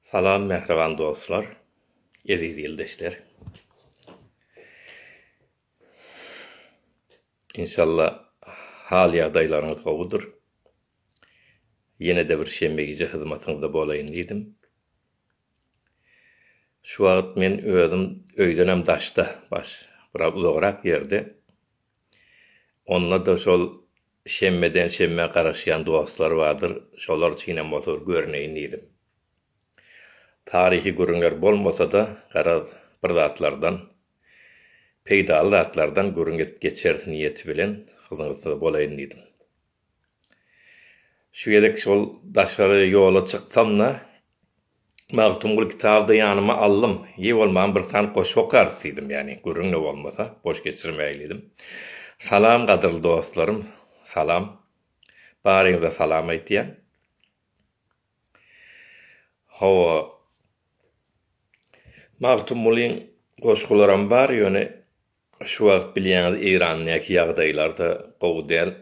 Salam mähriban dostlar, eziz ildeşler. Inşalla hal-ýagdaýlaryňyz gowudyr. Ýene-de bir şenbe gije hyzmatyňyzda bolaýyn diýdim. Şu wagt men özüm öýdenem daşda, biraz uzagrak ýerde. Onda-da şol Şenbeden şenbä garaşýan dostlar bardyr, şolar üçinem bolsa bir görneýin diýdim. Taryhy gürrüňler bolmasa-da, garaz, bir zatlardan, peýdaly zatlardan gürrüň edip geçeris niýeti bilen hyzyňyzda bolaýyn diýdim. Şu gezek şol daşary ýola çyksam-da. Magtymguly kitaby-da ýanyma aldym. Ýe bolmam bir sany goşgy okarys diýdim, ýagny gürrüň-de bolmasa, boş geçirmäýeli diýdim. Salam gadyrly dostlarym, salam. Baryňyza salam aýtýan. Hawa, Magtymgulyň goşgularam bar, ýöne şu wagt bilýäňiz Eýrandaky ýagdaýlar-da gowy däl,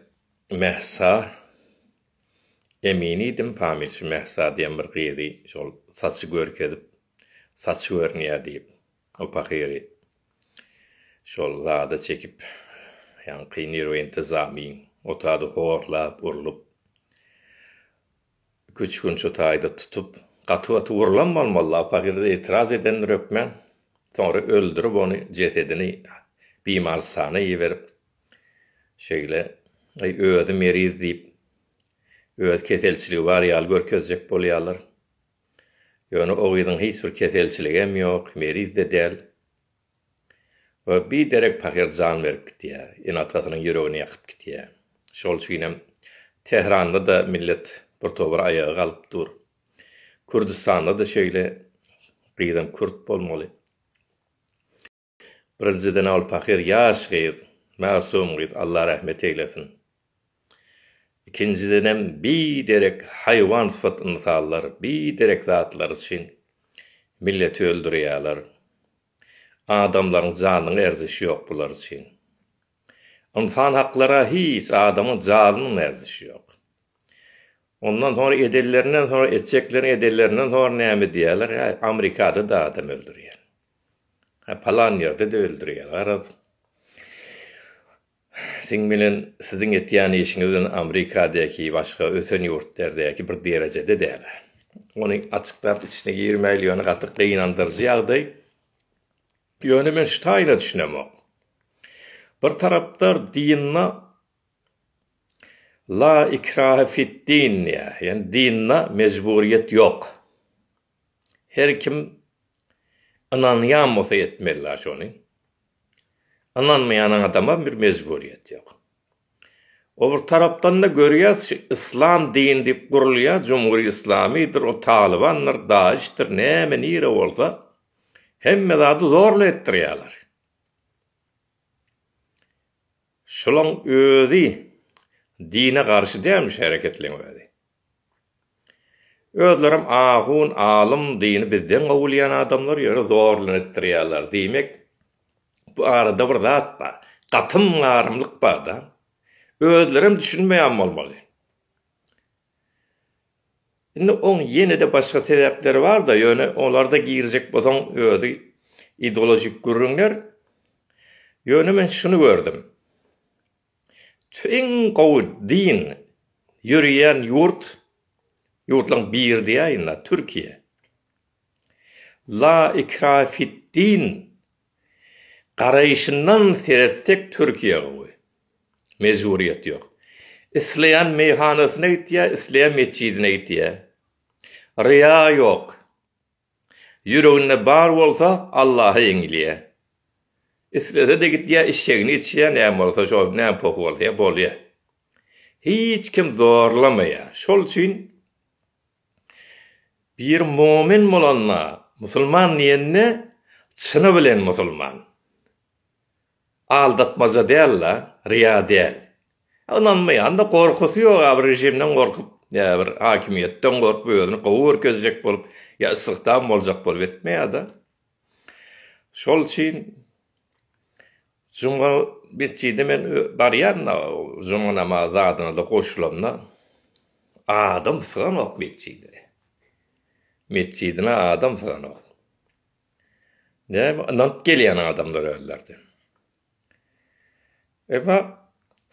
Mähsa. Emin idim Pamil şu Mähsa diýen bir gyzy şol saçy görkezip, saçy görünýär diýip, o pahyry şol zada çekip, ýaňky nerwointizamin otady horlap, urlup, iki-üç gün şu taýda tutup, gaty-gaty urlan bolmaly-la, o pahyr-da etiraz edendir hökmän, soňra öldürip ony, jesedini bimarystana iberip, Şeýle, aý özi meriz diýip, öz keselçiligi bar ýaly görkezjek bolýarlar. Ýöne o gyzyň hiç bir keselçiligem ýok, meriz-de däl. We bi derek pahyr jan berip gidýär, ene-atasynyň ýüregini ýakyp gidýär. Şol üçinem Tähranda-da millet bir tobar aýaga galyp dur. Kürdüstanda-da şeýle, gyzam kürt bolmaly. Birinjiden ol pahyr ýaş gyz, masum gyz Allah rahmet eýlesin. Ikinjidenem bi derek haýwan sypat ynsallar bi derek zatlar üçin milleti öldürýäler. Adamlaryň janyna erzişi ýok bular üçin. Ynsan haklara hiç adamyň janynyň erzişi ýok. Ondan soň edenlerinden soň etjeklerini edenlerinden soň näme diýäler, äý amerikada da adam öldürýän. Hä, palan ýerde-de öldürýär. Garaz, siň bilen siziň etýän işiňiz bilen Amrikadäki, başga ösen ýurtlardäki bir derejede däl. Ony açyklap içine girmäýli, ýöne gaty gynandyryjy ýagdaý. Ýöne men şu taýyna düşünemok. Bir tarapdar dinda La ikrahe fid-din diýýär, ýagny dinda mejburyýet ýok. Her kim ynanýan bolsa etmeli-la şony. Ynanmaýan adama bir mejburyýet ýok. O bir tarapdan-da görýäs şu yslam dini diýip gurulýar, jumhuri yslamydyr, o talybandyr, daişdir, näme nire bolsa hemme zady zorla etdirýärler. Şulaň özi dine garşy dälmi şu hereketleň özi. Özlerem ahun, alym, dini bizden gowy bilýän adamlar ýöne zor bilen etdirýärler. Diýmek bu arada bir zat bar. Gatym garymlyk barda. Özlerem düşünmeýän bolmaly. Indi oň ýene-de başga sebäpleri bar-da, ýöne olar-da girjek bolsaň özi ideolojik gürrüňler. Ýöne men şuny gördüm. Iň gowy din ýöreýän ýurt, ýurtlaryň biri diýäýin-la, Türkiýe. La ikrahe fid-din Garaýşyndan seretsek Türkiýe gowy. Mejburyýet ýok. Isleýän meýhanasyna gitýär, isleýän metjidine gitýär. Ryýa ýok. Ýüreginde bar bolsa Allaha ýeňilýär. Islese-de gidýär işşegini içýär näme bolsa şol näme pohy bolsa bolýar. Hiç kim zorlamaýar. Şol üçin Bir momin bolanda, musulman diýende çyny bilen musulman. Aldatmaja däl-de, ryýa däl. Ynanmaýan-da, gorkusy ýok, ýa bir režimden gorkup, ýa bir hakimiýetden gorkup, özüni gowy görkezjek bolup, ýa istihdam boljak bolup etmeýär-de. Şol üçin juma metjide men barýan-da, juma namazy zadyna-da goşulamda, adam syganok metjide. Metjidine adam syganok. Näme, ynanyp gelýän adamlar özleri-de. Emma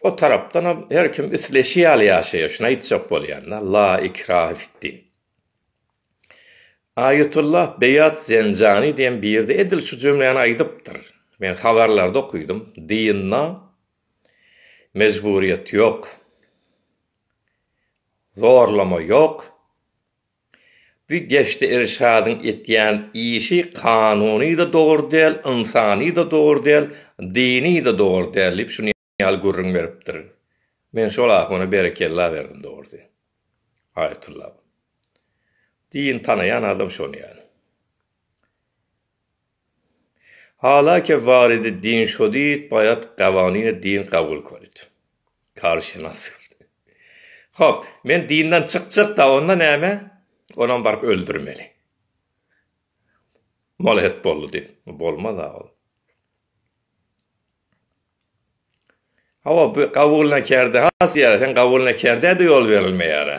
o tarapdanam her kim isleşi ýaly ýaşaýar, şuny aýtjak bolýan-da, La ikrahe fid-din. Aýetullah Beýat Zenjani diýen biri-de edil şu jümläni aýdypdyr. Men habarlarda okydym, Dynda mejburyýet ýok, zorlama ýok, bu Geçdi Irşadyň etýän işi kanuny-da dogry däl, ynsany-da dogry däl, dyny-da dogry däl diýip şuny ýaly gürrüň beripdir. Men şol ahuna berekella berdim dogrusy. Aýatylla. Diýin tanaýan adam şony ýaly. Hala ke waridi din şodid baýat gawanine din gabul korit. Karşynas. Hop, men dinden çykjakda onda näme? Onam baryp öldürmeli. Mola het boldy diýip. Bolmaz a ol. Hawa, bu gabulnakerde has ýaly, sen gabulnakerde-de ýol berilmeýär-ä.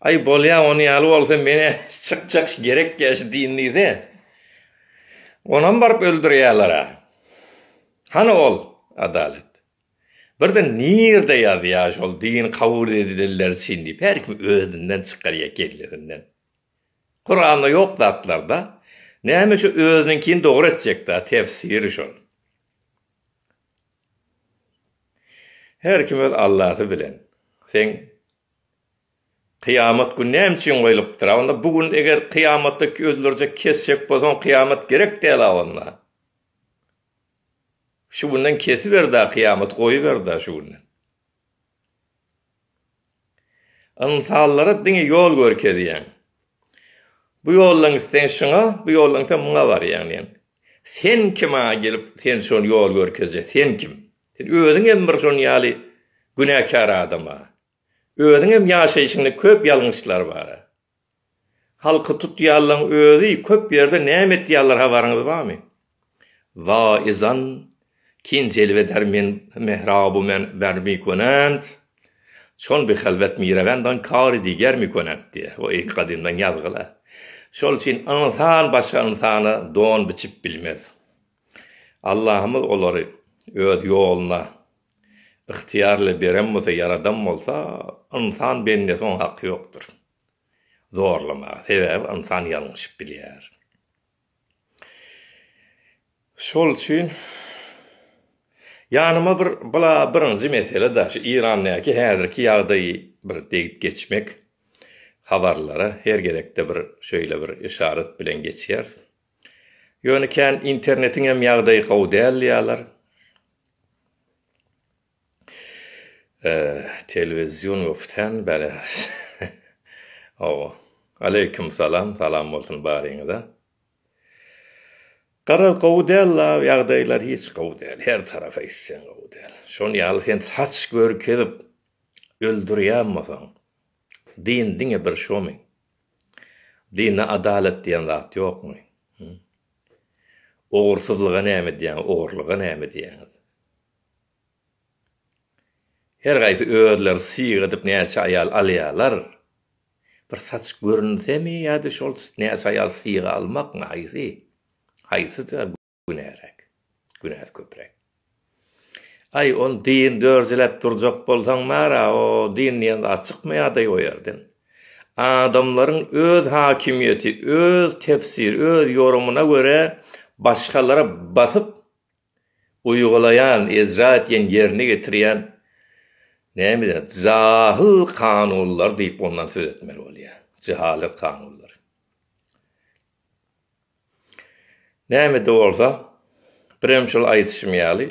Aý, bolýa, ony ýaly bolsa, men-ä çykjak gerek-ä şu din diýse, onam baryp öldürýärler-ä. Hany ol adalat? Birden nirde ýazýar şol din kabul edilenler üçin diýip, her kim özünden çykarýar kellesinden. Kuranda yok zatlarda näme şu özüniňkini dogry etjekda tefsiri şol. Her kim öz Allasy bilen. Seň Kyýamat gün näme üçin goýlupdyr? A onda bu gün eger kyýamatda öldürjek, kesjek bolsaň kyýamat gerek däl a onda. Şu günden kesiber da kyýamaty goýuber da şu günden. Ynsanlara diňe ýol görkezýäň. Bu ýoldan gitseň şuňa, bu ýoldan gitseň muňa barýaň diýýän. Sen kim maňa gelip, sen şony ýol görkezjek, sen kim? Sen özüň hem bir şuny ýaly günäkär adam-a. Özüň hem ýaşaýşyňda köp ýalňyşlar bar-a. Halky tutýanlaň özi köp ýerde näme etýanlar habaryňyz barmy? Wa izan kin jelve der men mehrabu men ber mi konant çon bi halwet mirewen dan kari diger mi konant diýe wa eki gadymdan ýazgyla şol üçin ynsan başga ynsana don biçip bilmez Allahymyz olary öz ýoluna yhtyýarly beren bolsa ýaradan bolsa ynsan bendesi oň haky ýokdur. zorlamaga, sebäbi ynsan ýalňyşyp bilýär. Şol üçin ýanyma bir bla birinji mesele da şu Irandäki häzirki ýagdaýy bir degip geçmek habarlara her gezekde bir şeýle bir yşarat bilen geçýäris. Ýöne kän internetiňem ýagdaýy gowy däl diýýärler. Telewizion goften bele ow. Aleýkum salam salam bolsun baryňyza. Garaz gowy däl la ýagdaýlar hiç gowy däl her tarap eýtseň gowy däl. Şon ýaly sen saç görkezip öldürýän bolsaň din diňe bir şomy? Dinde adalat diýen zat ýokmy? Ogursyzlyga näme diýýäňiz ogurlyga näme diýýäňiz? Her gaýsy özleri syýga edip näçe aýal alýarlar? Bir saç görünsemi ýa-da şol näçe aýal syýga almakmy haýsy? Haýsy-da günäräk? Günäsi köpräk. Aý ol din dörjeläp durjak bolsaň bar-a o din diýen zat çykmaýardaý o ýerden. Adamlaryň öz hakimiýeti, öz tefsir, öz ýorumyna görä başgalara basyp Uýgulaýan, ejra etýän, ýerine getirýän näme zat? Jahyl kanunlar diýip ondan söz etmeli bolýar. Jehalet kanunlary. Näme-de bolsa, birem şol aýdyşym ýaly,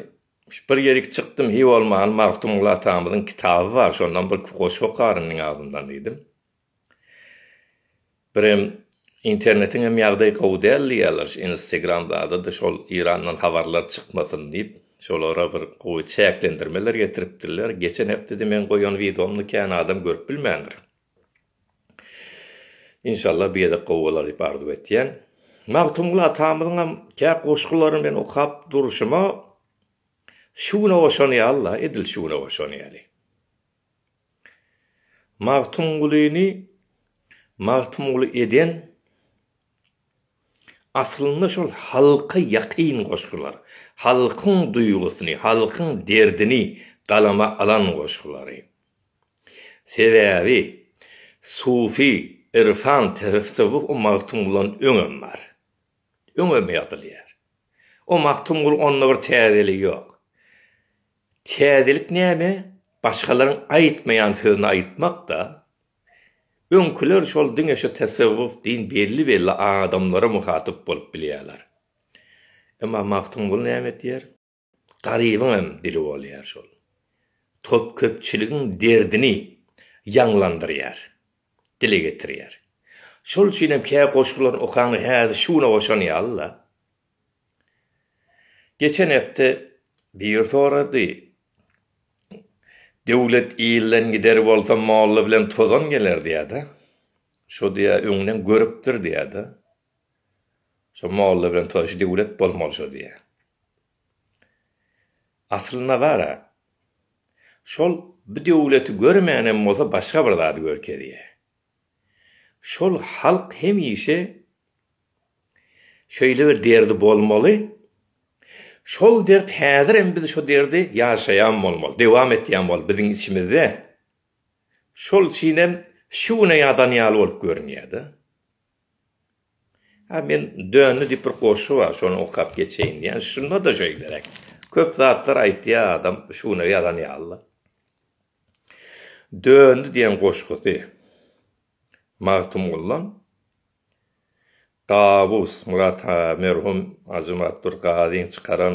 bir ýerik çykdym, hiý bolmany Magtymguly atamyzyň kitaby bar, şondan bir iki goşgy okaryn meniň agzymdan diýdim. Birem internetiň hem ýagdaýy gowy däl diýýärler şu instegram zadydy şol Irandan habarlar çykmasyn diýip şolara bir gowy çäklendirmeler getiripdirler geçen hepdede meň goýan widomny kän adam görüp bilmändir. Inşallah bu gezek gowy bolar diýip arzuw etýän. Magtymguly atamyzyňam kä goşgularyny men okap durşuma şu güne oşanýarla edil şu güne oşanýaly. Magtymgulyny Magtymguly eden aslynda şol halka ýakyn goşgular, halkyň duýgusyny, halkyň derdini galama alan goşgulary. Sebäbi sufi, irfan, tessewwuf o Magtymgulydan öňem bar. Öňem ýazylýar. O Magtymguly onda bir täzeligi ýok. Täzelik näme? Başgalaryň aýtmaýan sözüni aýtmak-da. Öňküler şol diňe şu tasawwuf, din belli-belli adamlara muhatyp bolup bilýärler. Emma Magtymguly näme edýär? Garybyň hem dili bolýar şol. Köpçüligiň derdini ýaňlandyrýar, dile getirýär. Şol üçin hem kä goşgularyny okaňda häzir şu güne goşan ýaly-la. Geçen hepde biri sorady, Döwlet ilden gider bolsa molla bilen tozan geler diýýärdi. Şo diýýär, öňden görüpdir diýýärdi. Şo molla bilen tozan, şu döwlet bolmaly şo diýýär. Aslynda bar-a, şol bu döwleti görmän hem bolsa başga bir zady görkezýär. Şol halk hemişe Şeýle bir derdi bolmaly. Şol dert häzir hem biz şo derdi ýaşaýan bolmaly, dewam etýän bolmaly biziň içimizde. Şol üçin hem şu güne ýazan ýaly bolup görünýär-de. Ha men Dönli diýip bir goşgy bar, şony okap geçeýin diýýän. Şunda-da şeýleräk. Köp zatlar aýtýar adam şu güne ýazan ýaly-da. Dönli diýen goşgusy Magtymgullaň Gabus Myrat merhum Ajymyrat bir gazyň çykaran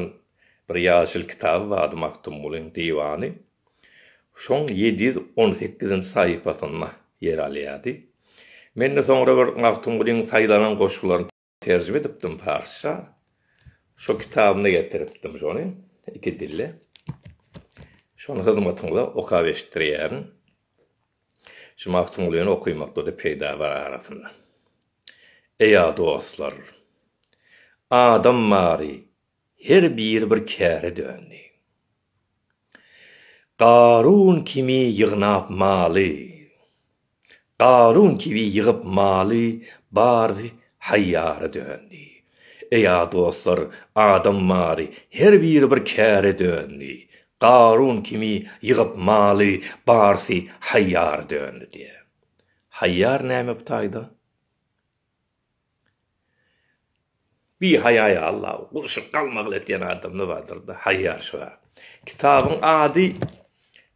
bir ýaşyl kitaby bardy Magtymgulyň diwany. Şoň ýedi ýüz on sekizinji sahypasynda ýer alýardy. Men-de soňra bir Magtymgulyň saýlanan goşgularyny terjime edipdim parsça. Şo kitabynda getiripdim şony iki dilli. Şony hyzmatyňyza okap eşitdirýärin. Şu Magtymgulyny okymakda-da peýda bar arasynda. Eý-a dostlar! Adam bary her biri bir käre döndi. Garun kimi ýygnap maly, Garun kibi ýygyp maly bary haýýara döndi. Eý-a dostlar! Adam bary her biri bir käre döndi. Garun kimi ýygyp maly, barsy haýýar döndi diýýär. Haýýar näme bu taýda? Bihaýaýa Alla, gurşup galmagly etýän adam ne bardyr-da, haýýar şu bar. Kitabyň ady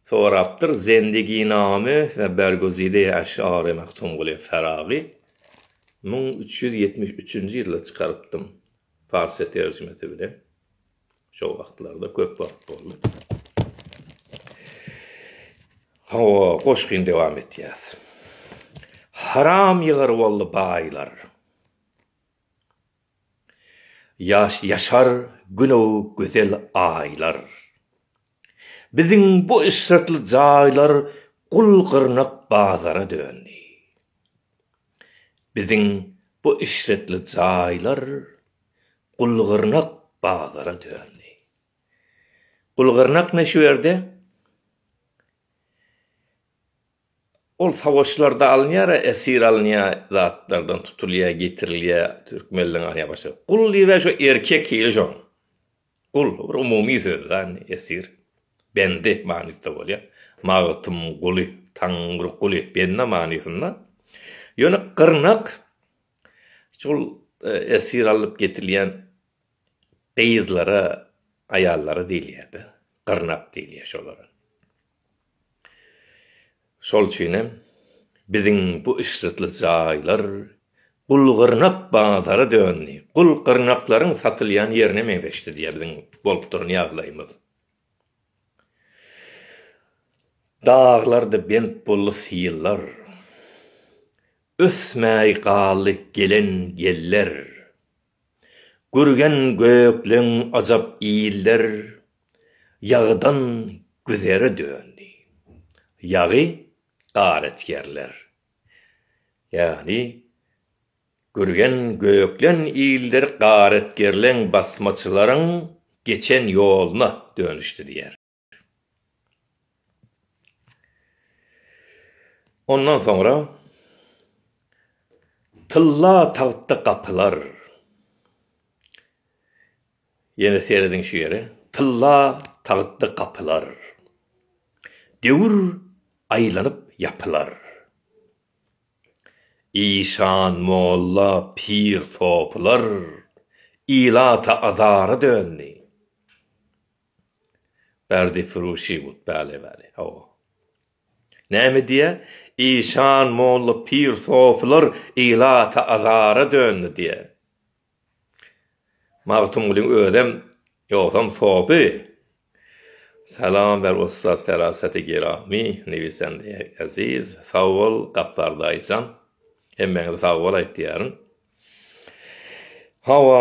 sorapdyr, Zendiginame we Bergozide Eş'ari Magtumguly Faragy müň üç ýüz ýetmiş üçünji ýylda çykarypdym, parsça terjimesi bilen. Şo wagtlarda köp wagt boldy. Hawa, goşgyny dowam etýäs. Haram ýygar boldy baýlar. Ýaş ýaşar günow gözel aýlar. Biziň bu eşretli jaýlar gul-gyrnak bazara döndi. Biziň bu eşretli jaýlar gul-gyrnak bazara döndi. Gul-gyrnak ne şu ýerde? Ol savaşlarda alynýar-a, esir alynýar, zatlardan tutulýar, getirilýär, türkmenleň alýar başga. Gul diýibä şu erkek hili şoň. Gul, bir umumy söz da, indi, esir, bendi manysda bolýar. Magtym guly, Taňry guly, bende manysynda. Ýöne gyrnak şol esir alnyp getirilýän gyzlara, aýallara diýilýär-de. Gyrnak diýilýär şolara. Şol üçin hem biziň bu yşrtly jaýlar gul-gyrnak bazara döndi, gul-gyrnaklaryň satylýan ýerine meňzeşdi diýýär biziň bolup duran ýagdaýymyz. Daglarda bent boldy syllar, ösmäý galdy gelen geller. Gürgen gökleň ajap iller, Ýagydan güzere döndi. Ýagy garetgerler. Ýagny, Gürgen göklen iller garetgerleň, basmaçylaryň geçen ýoluna dönüşdi diýýär. Ondan soňra tylla tagtda gapylar. Ýene serediň şu ýere. Tylla tagtda gapylar. Döwür aýlanyp ýapylar. Işan, molla, pir, sopylar ilata azara döndi. Berdi Firuşy bud päli päli hawa. Näme diýä, işan molla pir sofylar ilata azara döndi diýä. Magtymgulyň özem ýogsam sofy. Salam ber ussat feraseti giramy newisende eziz sag bol Gapbar daýyjan hemmäňize sag bol aýtýaryn. Hawa,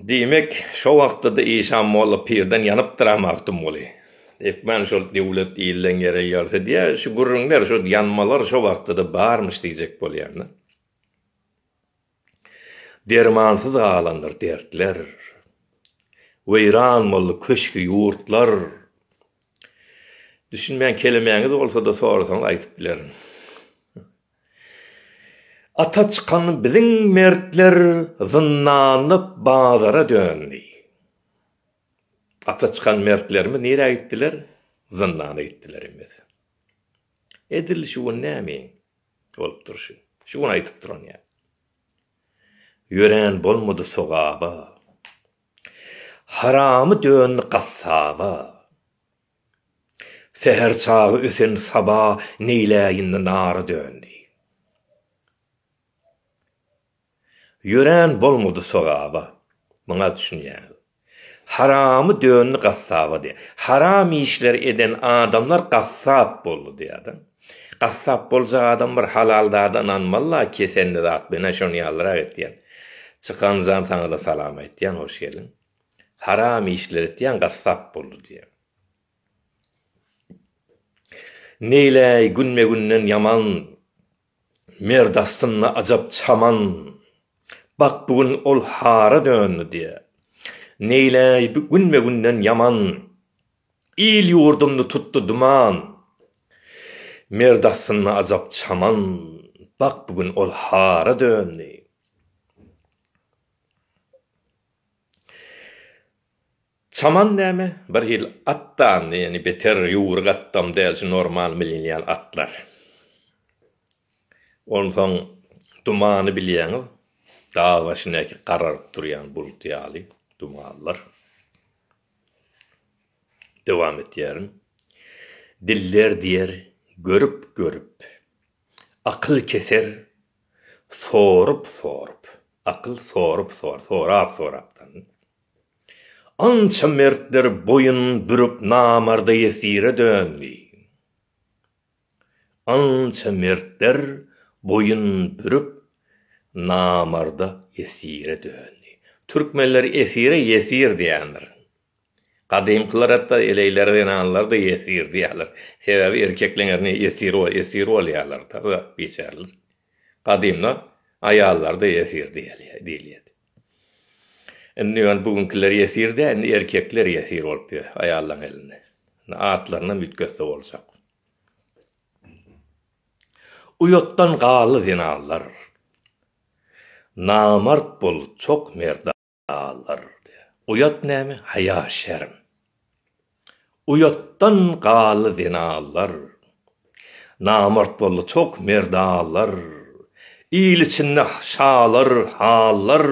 diýmek, şo wagtda-da işan molla pirden ýanypdyr-a Magtymguly. Hökman şol döwlet ilden ýere ýarsa diýä, şu gürrüňler, şu ýanmalar şo wagtda-da barmyş diýjek bolýan-da. Dermansyz galandyr dertler. Weýran boldy köşk-ýurtlar. Düşünmän kelemäňiz bolsa-da sorasaňyz aýdyp bilerin. Ata çykan biziň mertler zyndanlyk bazara döndi. Ata çykan mertlerimiz nirä gitdiler? Zyndana gitdiler ýmyz. Edil şu gün näme bolupdyr şu? Şu gün aýdyp duran ýa. Ýörän bolmady sogaba. Haramy döndi gassaba. Säher çagy ösen saba neýläýindi nara döndi. Ýörän bolmady sogaba. Muňa düşünýäň. Haramy döndi gassaba diýýär. Haram işler eden adamlar gassap boldy diýýär-de. Gassap boljak adam bir halal zada ynanmaly-la, kesendi zat menä şony ýazyrak etýän. Çykan jan saňa-da salam aýtýan, hoş geldiň. Haram işler etýän gassap boldy diýýär. Neýläý günbe-günden ýaman, Merd astynda ajap çaman, Bak, bu gün ol hara döndi diýýär. Neýläý günbe-günden ýaman, Il-ýurdumdy tutdy duman, Merd astynda ajap çaman, Bak, bu gün ol hara döndi. Çaman näme, bir hili at dany, ýöne beter ýüwrük atdam däl, şu normal minilýän atlar. Onsoň dumany bilýäňiz, dag başyndäki gararyp durýan bulut ýaly dumanlar. Dowam etýärin. Diller diýer, görüp-görüp, akyl keser, Sorup-sorup, akyl sorup-sor, sorap-sorapdan. Ança mertler boýun bürüp namarda ýesire döndi. Ança mertler boýun bürüp namarda ýesire döndi. Türkmenler esire ýesir diýendir. Gadymkylar hatda eleýlere zenanlary da ýesir diýýärler. Sebäbi erkekleň eline ýesir bol, esir bolýarlar-da biçäreler. Gadymda aýallar-da ýesir diýilýärdi. Indi ýöne bu günkiler ýesir däl, indi erkekler ýesir bolup ýör aýallaryň elinde. Indi atlarynam üýtgetse boljak. Uýatdan galy zenanlar. Namart bol, çok merdan. Alar diýýär. Uýat näme, haýa-şerm. Uýatdan galdy zenalar. Namart boldy çok merdalar. Il içinde şalar, hallar,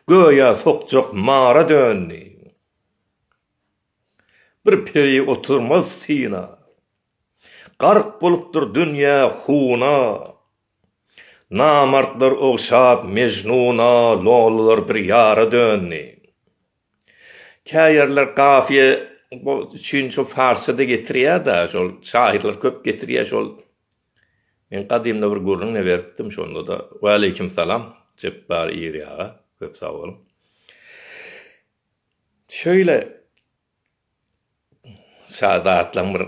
göýä sokjak mara döndi. Bir peri oturmaz syna. Gark bolupdyr dünýä huna. Namartlar ogşap Mejnuna Lolular bir ýara döndi. Kä ýerler kafiýe üçin şol farsça-da getirýär-de, şol şahyrlar köp getirýär şol. Men gadymda bir gürrüň-de beripdim şonda-da. Waleýkim salam, Jepbar Iri aga. Köp sag boluň. Şeýle. Şazatlaň bir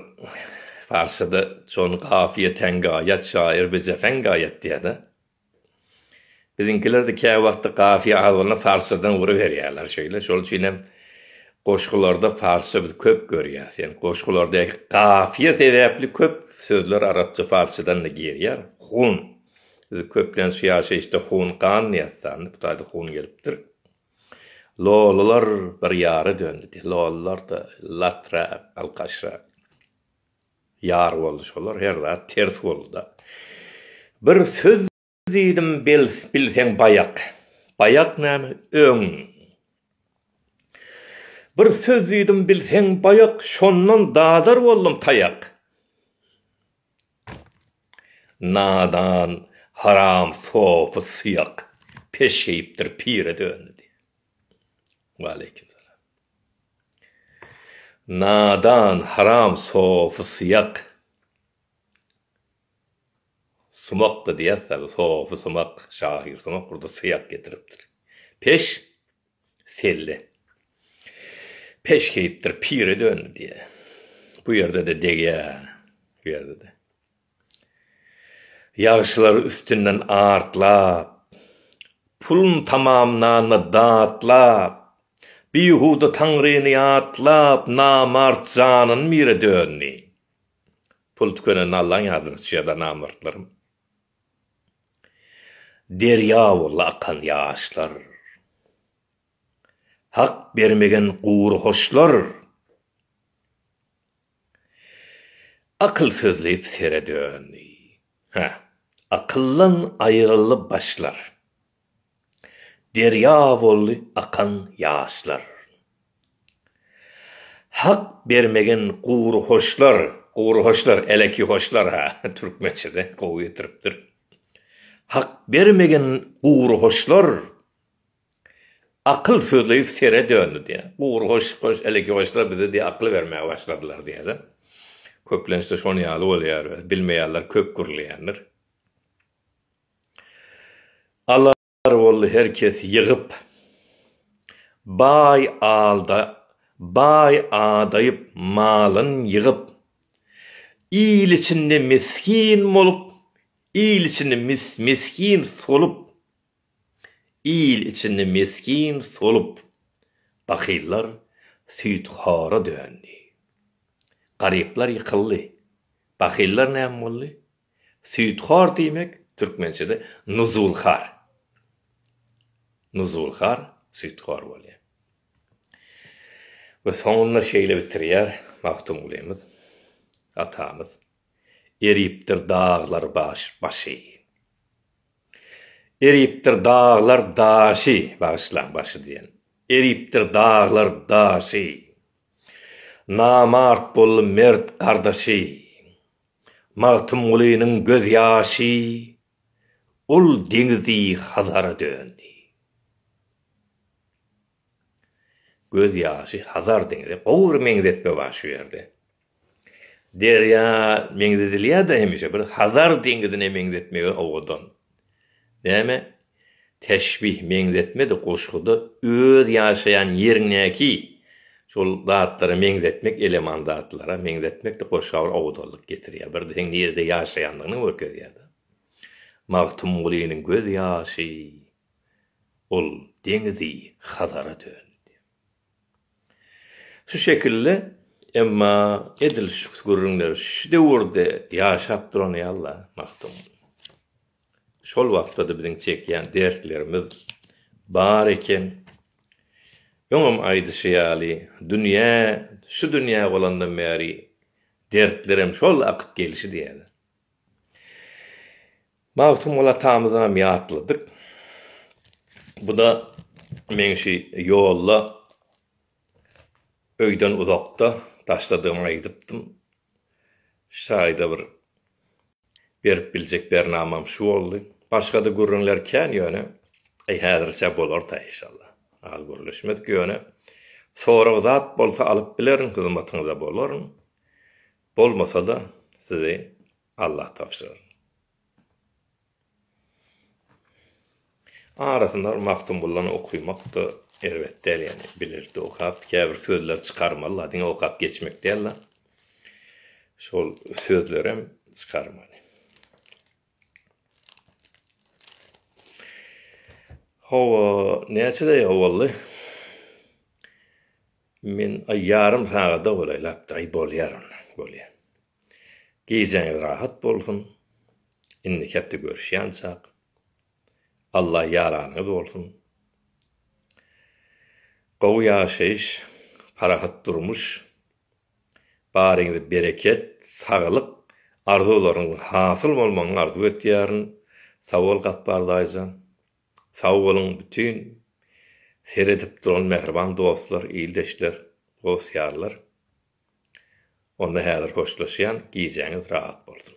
parçada çon kafiýe ten gaýat şaýyr bize sen gaýat diýýärde. Biziňkilerde kä wagtda kafiýe az bolanda parçadan ury berýärler şeýle. Şol üçin hem goşgularda parça biz köp görýäs. Ýani goşgularda kafiýe sebäpli köp sözler arapça parçadan-da girýär. Hun. Biz köplenç ýaşaýyşda hun gan diýýäs sanda bu taýda hun gelipdir. Lolular bir ýara döndi. Lolular-da latrak, alkaşrak ýar boldy. Şolar her zat ters boldy-da. Bir söz diýdim, bilseň baýak. Baýak näme, öň. Bir söz diýdim, bilseň baýak, şondan dadar boldum taýak. Nadan haram sopy syýak peşgeýipdir pire döndi diýýär. Waleýkim salam. Nadan haram sopy syýak sumakdy diýýär sopy sumak şahyr sumak burda syýak getiripdir. Peş. Selle. Peşgeýipdir, pire döndi diýýä. Bu ýerde-de degýä, bu ýerde-de. Ýagşylary üstünden atlap, pulun tamamlanda datlap, bihuda Taňryny ýatlap, namart janyn mire döndi. Pul tükenende Allaň ýadyny tutýar-da namartlarym. Derýa boldy akan ýaşlar. Hak bermegen gury hoşlar. Akyl sözleyip sere döndi. Hä, akyldan aýryldy başlar. Derýa boldy akan ýaşlar. Hak bermegin gury hoşlar, gury hoşlar, eleki hoşlar ha, türkmençede gowy getiripdir. Hak bermegin gury hoşlar. Akyl sözleýip sere döndi diýýä. Gury hoş, hoş, eleki hoşlar bize diýýä akyl bermäge başladylar diýýä-de. Köplenç-de şonuň ýaly bolýar öz, bilmeýänler köp gürleýändir. Alar boldy her kes ýygyp. Baý alda, baý adaýyp malyn ýygyp. Il içinde misgin bolup, il içinde misgin solup. Il içinde misgin solup. Bahyllar süýt hora döndi. Garyplar ýykyldy. Bahyllar näme boldy? Süýthor diýmek türkmençede nuzulhar. Nuzulhar süýthor bolýar. We soňunda şeýle bitirýär Magtymgulymyz atamyz, Eripdir daglar başy. Eripdir daglar daşy, bagyşlaň, başy diýen. Eripdir daglar daşy. Namart boldy mert gardaşy. Magtymgulynyň gözýaşy ol deňizi Hazara döndi. Göz ýaşy Hazar deňize gowy bir meňzetme bar şu ýerde. Derýa meňzedilýär-de hemişe bir Hazar deňizine meňzetmegi owadan. Näme? Teşbih, meňzetme-de goşguda öz ýaşaýan ýeriňdäki şol zatlara meňzetmek, eleman zatlara meňzetmek-de goşga bir owadanlyk getirýär, bir-de seň nirede ýaşaýandygyňy görkezýär-de. Magtymgulynyň gözýaşy, ol deňizi Hazara döndi. Şu şekilde, emma edil şu gürrüňler şu döwürde ýaşap duran ýaly-la, Magtymguly. Şol wagtda-da biziň çekýän dertlerimiz bar eken. Öňem aýdyşy ýaly, dünýä, şu dünýä bolandan bäri dertlerem şol akyp gelşi diýýärler. Magtymguly atamyzam ýatladyk. Bu-da meň şu ýolda öýden uzakda taşladygymy aýdypdym. Şaýyda bir berip biljek bernamam şu boldy. Başga-da gürrüňler kän ýöne, eý häzirçä bolar-da inşallah. Az gürleşmedik ýöne, sorag zat bolsa alyp bilerin, hyzmatyňyzda bolaryn. Bolmasa-da sizi Allah tabşyrar. Arasynda bir Magtymgullany okymak-da erbet däl ýagny bilerdi okap, käbir sözler çykarmaly-la, diňe okap geçmek däl-la. Şol sözlerem çykarmaly. Hawa, näçe daýga boldy? Men aý ýarym sagada bolaýlapdyr, aý bolýar onda, bolýar. Gijäňiz rahat bolsun indiki hepde görüşýançak Allah ýaranyňyz bolsun gowy ýaşaýyş parahat durmuş baryňyza bereket saglyk arzuwlaryňyz hasyl bolmagyny arzuw etýärin sagbol Gapbar daýyjan sag boluň bütin seredip duran mähriban dostlar ildeşler dost ýarlar. Onda häzir hoşlaşýan gijäňiz rahat bolsun.